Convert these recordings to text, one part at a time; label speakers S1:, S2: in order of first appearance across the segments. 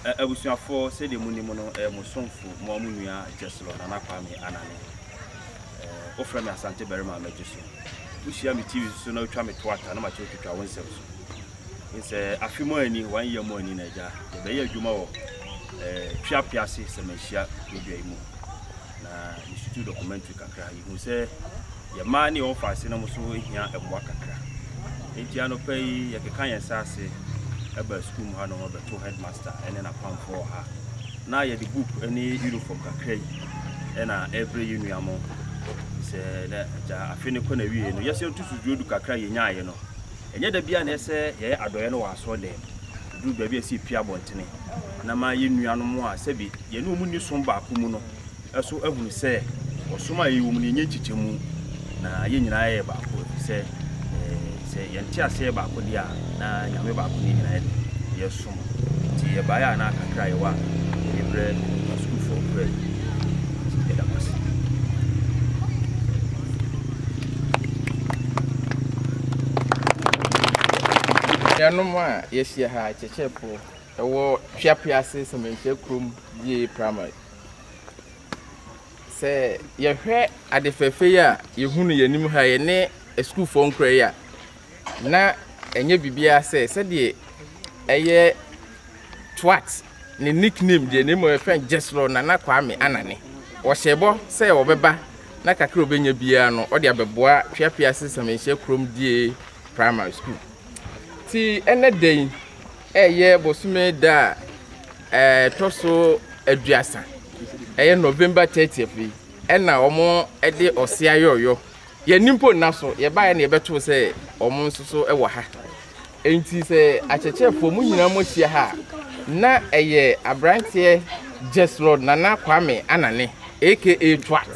S1: Abusuafoɔ, sɛdeɛ monim no, ɛyɛ mo somfo, mo ara mo nua Gyeslor Nana Kwame Anane. Wofrɛ me Asante barima a mɛgye so. Wohyia me TV so na wotwa me to ata na mate wotwitwa wo nsɛm so. Nsɛ afe mu ani, one year mu ani na agya, yɛbɛyɛ adwuma wɔ Tweape ase sɛ manhyia kuro dua yi mu. Na mesutu documentary kakra, yɛhu sɛ Yɛn mmaa ne wɔn fa asenom nso hia mmoa kakra. Enti anɔpa yi yɛkeka yɛn nsa ase ba sukuu mu hanom bɛto headmaster ne n'apamfoɔ ha. Na yɛde book ne uniform kakra yi na ɛbrɛ yɛn nua mo. Sɛ na agya afe no kɔ na wie no yɛsɛ yɛtu suduro du kakra yɛnyaeɛ no. Ɛnyɛ da biara na ɛsɛ yɛyɛ adɔeɛ no wɔ asɔre dɛm. Ɛduru baabi a ɛsɛ yɛpue abɔntene na ma yɛn nuanom a sɛbi yɛne wɔn nni som baako mu no so ahunu sɛ ɔsom a yɛwɔ mu no, yɛnyɛ nkyekyɛmu, na yɛn nyinaa yɛ baako, efisɛ sɛ yɛn nteaseɛ yɛ baako deɛ a, na Nyame baako ne yɛn nyinaa de yɛsom. Nti yɛbaeɛ a na kakra a yɛwɔ a yɛde brɛ asukuufoɔ nkoraa yi. Nti yɛda mo ase. Yɛnom a yɛahyia ha, Kyekyepo, ɛwɔ Tweapease Sɛmɛnkyia kurom GA Primary. Sɛ yɛhwɛ ade fɛɛfɛ yi a yɛhu no yɛn anim ha yi ne asukuufoɔ nkura yi a, na ɛnyɛ biribiara sɛ sɛdeɛ ɛyɛ twat ne nickname deɛ na mmom yɛfrɛ no gyesrɔ nana kwame anane wɔhyɛ bɔ sɛ wɔbɛba na kakra ɔbɛnya biara no ɔde abɛboa tweapease sɛmɛnhyia kurom die primary school ti ɛnɛ da yi Ɛyɛ bosome da a ɛtɔ so aduasa, ɛyɛ November 30th yi, ɛna wɔde ɔse ayɔyɔ. Yɛni mpo nna so, yɛbaeɛ na yɛbɛtoo sɛ wɔn nso so wɔ ha. Enti sɛ akyerɛkyerɛfoɔ mu nyinaa moahyia ha a, na ɛyɛ aberanteɛ Jeslord Nana Kwame Anane aka Twat,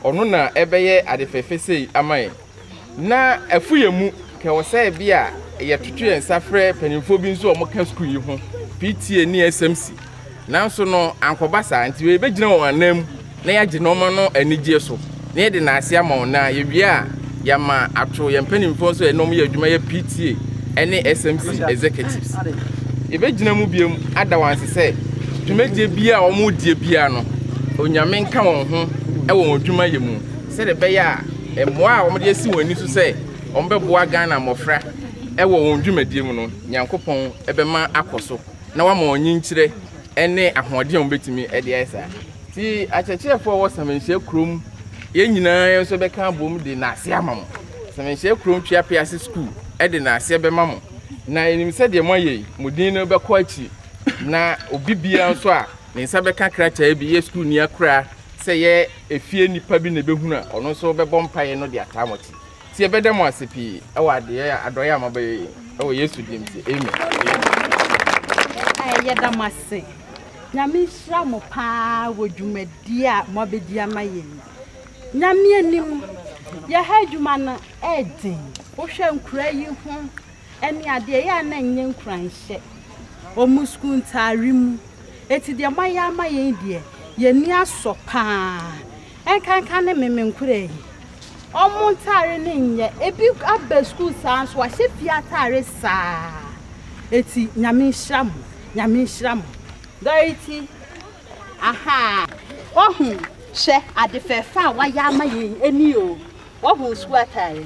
S1: ɔno na ɛbɛyɛ ade fɛfɛ sei ama yɛn. Na ɛfo yɛn mu, ka ɛwɔ sɛ bi a yɛtoto yɛn nsa frɛ mpanyinfoɔ bi nso a wɔka sukuu yi ho, PTA ne SMC. Nanso no, ankɔba saa, nti wei yɛbɛgyina wɔn anan mu na yɛagye nɔɔma no anigyeɛ so, na yɛde no ase ama wɔn, na yɛwie a yɛama ato yɛn mpanyinfoɔ nso a ɛne wɔn yɛ adwuma yɛ PTA ɛne SMC executives. Yɛbɛgyina mu biom ada wɔn ase sɛ dwumadie biara a wɔn deɛ biara no, Onyame nka wɔn ho ɛwɔ wɔn adwuma yɛ mu. sɛdeɛ ɛbɛyɛ a mmoa a wɔde asi wɔn ani so sɛ wɔbɛboa Ghana mmɔfra wɔ wɔn dwumadie mu no, Nyankopɔn bɛma akɔ so na wama wɔn nyinkyerɛ ne ahoɔden a wɔbɛtumi de ayɛ saa. Nti akyerɛkyerɛfoɔ a wɔwɔ Samanhyia kurom, yɛn nyinaa yɛn nso bɛka abom de nnaase ama mo. Samanhyia kurom Tweapease sukuu de nnaase bɛma mo. Na yɛnim sɛdeɛ moayɛ yi, mo din no bɛkɔ akyiri. Na obi biara nso a ne nsa bɛka krataa bi, yɛ sukuuni akora, sɛ yɛ efie nnipa bi na ebehunu a, ɔno nso bɛbɔ mpae no de ataa mo akyi. Nti yɛbɛda mo ase pii wɔ adeyɛ a adɔyɛ a mobɛyɛ yi wɔ Yesu din nti. Amen. Yɛda mo ase. Nyame nhyira mo paa wɔ dwumadi a moabɛdi ama yɛn yi. Nyame anim, yɛha adwuma no ɛyɛ den. Wohwɛ nkura yi ho. Ɛne adeɛ ɛyɛ a na ɛnyɛ nkuranhyɛ wɔ mo sukuu ntaare mu. Enti deɛ moayɛ ama yɛn yi deɛ, yɛn ani asɔ pa ara. Ɛnkanka ne me, me nkoraa yi, wɔn ntaare no nyɛ. Ebi aba sukuu saa ara nso wɔahyɛ fie ataare saa. Enti Nyame nhyira mo, Nyame nhyira mo. Dorothy, Ahaa, woahu, hwɛ ade fɛɛfɛ a woayɛ ama yɛn yi, ɛne o, woahu sukuu ataare.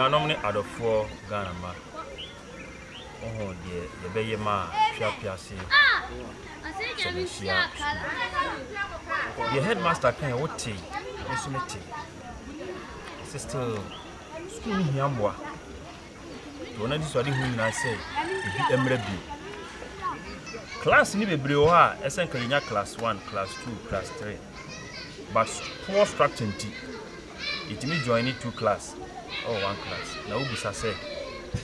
S1: anuanom ne adɔfoɔ Ghana mma. Wohu deɛ yɛbɛyɛ ma Twea Piase Kyɛmɛsua Sukuu? Deɛ headmaster kae wotee, me nso metee. Ɛsɛ still sukuu no hia mmoa. Nti wɔn anisoadehu nyinaa sɛ ebi mmra bio. Class no bebree wɔ hɔ a ɛsɛ nka yɛnya class one, class two, class three. But poor structure nti, yɛtumi joine two class ɛwɔ one class na wobisa sɛ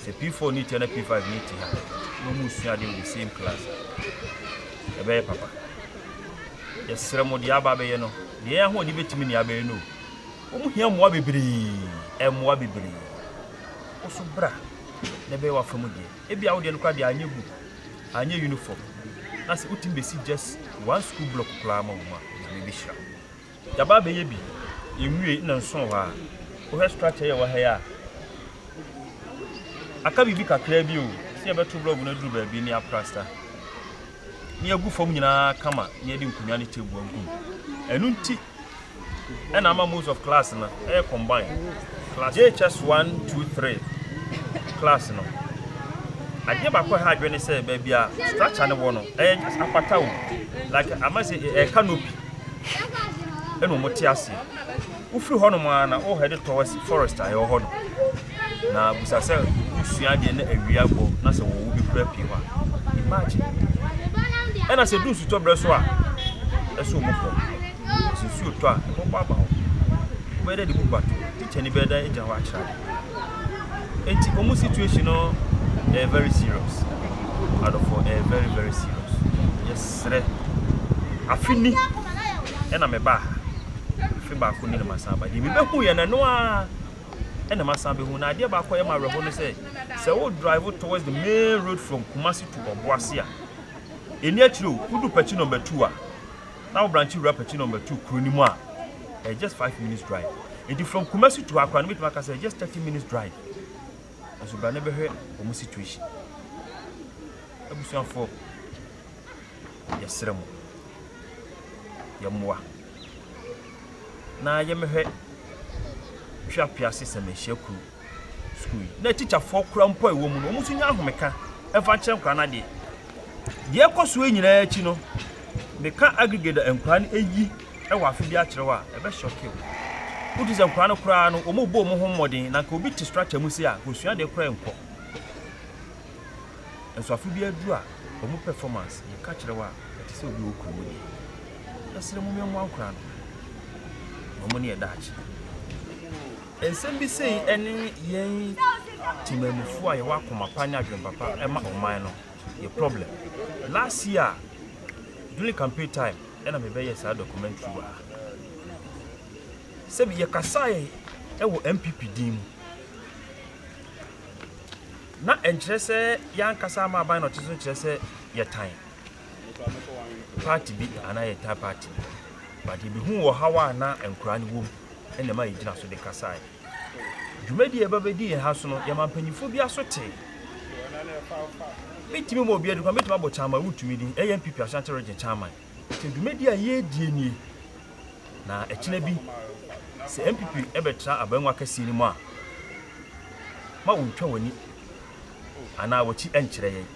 S1: sɛ P4 ne ti ha na P5 ne ti ha na wɔn resua adeɛ wɔ the same class a ɛbɛyɛ papa yɛsrɛ mo deɛ aba abɛyɛ no deɛ yɛn ahoɔden bɛtumi ne abɛyɛ no o wɔn hia mmoa bebree mmoa bebree woso bra na ɛbɛyɛ wafa mu deɛ ebi a wodeɛ no koraa deɛ anyɛ book anyɛ uniform na sɛ wotumi bɛsi just one school block koraa ma wɔn a nyame bɛhyira Yɛaba abɛyɛ bi, yɛnwiei na nso wɔ hɔ ara. Wohwɛ structure yi a ɛwɔ ha yi a, aka biribi kakraa bi o, sɛ yɛbɛto blɔg no aduru baabi ne aprasta, ne yɛagu fam nyinaa kama, ne yɛde nkonnwa ne table agu mu. Ɛno nti ɛna ama most of class no ɛyɛ combine. JHS 1, 2, 3 class no, adeɛ baako a ɛha adwene ne sɛ baabi a structure no wɔ no, ɛyɛ afata o, like ama sɛ ɛyɛ canopy. Hwɛ! Ɛnna wɔte ase. Wofiri hɔnom ara na wɔhɛde towards forest a ɛwɔ hɔ no, na bisa sɛ wosua adeɛ na awia bɔ na sɛ wɔwɔ bi koraa pii hɔ a. Imagine! Ɛnna sɛ ɛdu nsutɔberɛ so a, ɛsɛ wɔn kɔ. Sɛ nsuo tɔ a, ɛbɛbɔ aba hɔ. Wobɛyɛ dɛ de book bato hɔ. Tikyani bɛyɛ dɛ agyina hɔ akyerɛ ade. Enti wɔn situation no ɛyɛ very serious. Adɔfoɔ ɛyɛ very very serious. Yɛsrɛ afe ni ɛna mebaa ha. Afe baako ni na masan aba. Deɛ mebɛhu yɛ no ɛno ara ɛna masan bɛhu. Na adeɛ baako a ɛyɛ me awerɛhoɔ ne sɛ sɛ wo drive towards the main road from Kumasi to Ɔboase a ɛni akyire o. Wodu Pɛkyi number two a na wo branch wura Pɛkyi number two kuro no mu a ɛyɛ just five minutes drive nti from kumasi to akora no bɛtumi aka sɛ just thirty minutes drive nso bra ne bɛhwɛ wɔn situation abusuafoɔ yɛsrɛ mo yɛmmoa na yɛmɛhwɛ tweapea se sɛ mehyia kuro sukuu yi na tikyafoɔ kora mpo a ɛwɔ mu no wɔn nso nya ahomeka ɛmfa nkyerɛ nkora no adeɛ deɛ ɛkɔ so nyinaa akyi no meka aggregate nkora no ɛyi wɔ afe bi akyerɛw a, ɛbɛ shock wo. Wo te sɛ nkwadaa no koraa no, wɔn bɔ wɔn ho mmɔden na nka obi te structure mu sei a, nka osua deɛ koraa nkɔ. Nso afe bi aduru a, wɔn performance, yɛ ka kyerɛ wo a, ɛte sɛ obi wɔ kuro mu deɛ. Yɛ srɛ mo mmɛ mmoa nkwadaa no, na wɔn ne yɛ daakye. Nsɛm bi sei ne yɛn temanmufoɔ a yɛwɔ akoma pa ne adwene papa ma ɔman no, yɛ problem. Last year, during campaign time, na mebɛyɛɛ saa documentary wɔ ha. Sɛbi yɛkasaeɛ wɔ NPP din mu. Na ɛnkyerɛ sɛ yɛankasa ama aban na ɔte so kyerɛ sɛ yɛtan party bi anaa yɛtan party bi. But yɛbɛhuu ɔhaw a na nkoraa no wɔ mu na ɛma yɛgyina so de kasaeɛ. Dwumadi a ɛbɛbɛdi yɛn ha so no, yɛma mpanyimfo bi aso tee. Metumi ma obi aduru kwan, metumi abɔ Chairman Wotumi din, ɛyɛ NPP Ashanti Region Chairman. Sɛ dwumadi a yɛredie nie, na ɛkyena bi sɛ NPP ɛbɛtra abangua kɛseɛ no mu a, ma wontwa w'ani anaa w'akyi nkyerɛ yɛn.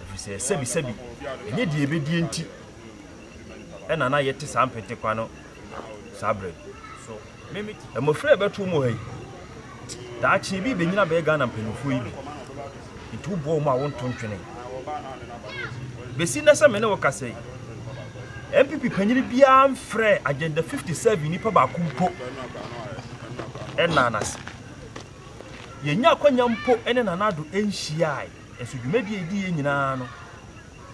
S1: Ɛfiri sɛ sɛbi sɛbi, ɛnyɛ deɛ yɛbɛdie nti ɛna na yɛte saa mpentekwa no saa berɛ so. Mmofra a ɛbɛto wɔn wɔ ha yi, daakye ebi rebenyin abɛyɛ Ghana mpanyimfo yi bi. Enti woboa wɔn a wonto ntwene. Besi nnɛ sɛ me ne wo kasa yi, NPP panyin biara mfrɛɛ Agenda 57 nipa baako mpo ɛnnaa no ase. Yennya akwanya mpo ne Nana Addo nhyiae, nso dwumadi a edi yɛ nyinaa no,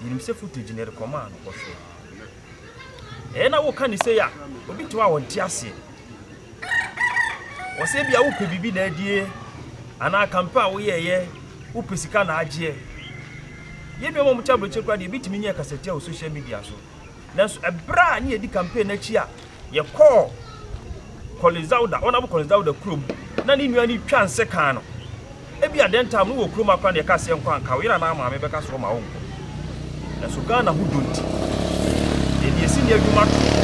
S1: yenim sɛ footage na yɛde kɔmaa no, ɔhwɛe. Ɛyɛ na woka no sei a, obi te hɔ a ɔnte aseɛ. Wɔ sɛ bia wopɛ biribi na adie, anaa kampa a woyɛɛyɛ, wopɛ sika na agyeɛ. Yɛn nuanom a wɔte aburokyire koraa deɛ, ebi tumi nyɛɛ kasatia wɔ social media so. Nanso ɛberɛ a ne yɛdi campaign no akyi a, yɛkɔɔ Kɔle Zauda, Honourable Kɔle Zauda kurom na ne nua no retwa nsekan no. Ebia dɛn ntam no wɔ kurom akora na yɛka sɛ nkɔ anka wo yere anaa maame bɛka sɛ ɔma wo nkɔ. Nanso Ghana ho dɔ nti, yɛde yɛn sini adwuma too hɔ.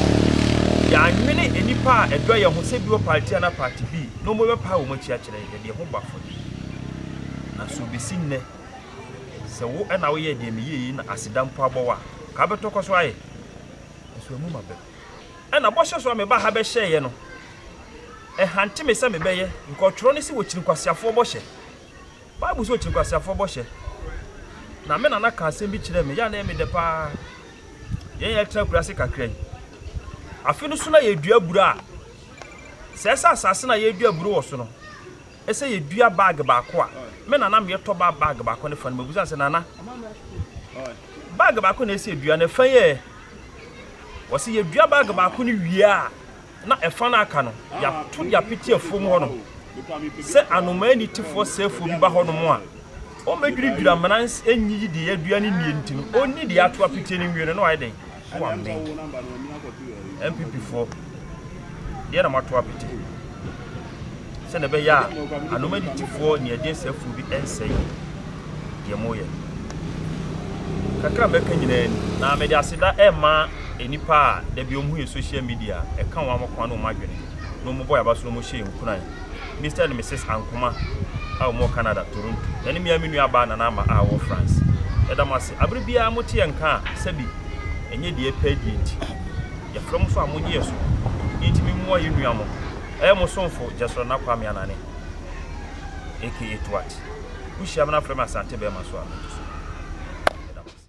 S1: Yɛannwene nnipa a ɛdɔ yɛn ho sɛ bi wɔ party anaa party B na wɔbɛpae wɔn akyi akyerɛ yɛn. Yɛde yɛn ho bɔ afɔde. Nanso besi nnɛ, sɛ wo na woyɛɛ deɛ meyɛɛ yi na aseda mpo abɔ wo a, anka wobɛtɔ kɔ so ayɛ? Nanso amum abam. Ɛna bɔhyɛ so a mebaa ha bɛhyɛeɛ no, ɛhante me sɛ mebɛyɛ, nka ɔtwerɛ no se wɔkyiri nkwaseafoɔ bɔhyɛ. Bible se wɔkyiri nkwaseafoɔ bɔhyɛ. Na me nana ka asɛm bi kyerɛɛ me, yɛ a na ɛyɛ me dɛ paa. Yɛn yɛ tena akura ase kakra yi. Afe no so na yɛdua aburo a, sɛ ɛsɛ asase na yɛdua aburo wɔ so no, sɛ yɛdua bag baako a, me na na meyɛ tɔba bag baako no fa no. Mebisa no sɛ, Nana, bag baako na ɛsɛ sɛ yɛdua no, ɛfa yi ɛ? Ɔse, yɛdua bag baako no wie a, na ɛfa no aka no, yɛato de apete afuom hɔnom. Sɛ anomaa anitefoɔ sɛefoɔ bi ba hɔnom a, Wɔbɛdwiradwira amena nyi yi deɛ adua ne nnie nti no ɔnni deɛ ato apitie no nwie no na wayɛ dɛn na wammee NPP foɔ deɛ na moato apete sɛdeɛ ɛbɛyɛ a anoma aditifoɔ ne ɛdeɛ sɛ afuo bi ɛnsɛe deɛ moyɛ kakra mɛka nyinaa ni na mede aseda ɛma nnipa a dabi ɔmo yɛ social media ɛka wɔn amokoa ne ɔmo adwene na ɔmo bɔ yaba so na ɔmo hyɛ nkuran Mister ne Misus Ankomah a wɔwɔ Canada, Toronto, na ne mmea me nuabaa Nana Ama a ɔwɔ France. Yɛda mo ase. Bere biara mote yɛn nka a, sɛbi ɛnyɛ deɛ yɛpɛ adie nti, yɛfrɛ mo so a monnye yɛn so. Yei nti memmoa yɛn nua mo. Ɛyɛ mo somfo Jesrel Nna Kwame Anane aka Toat. Wohyia me na frɛ me Asante Bɛɛma so a, mɛgye so. Yɛda mo ase.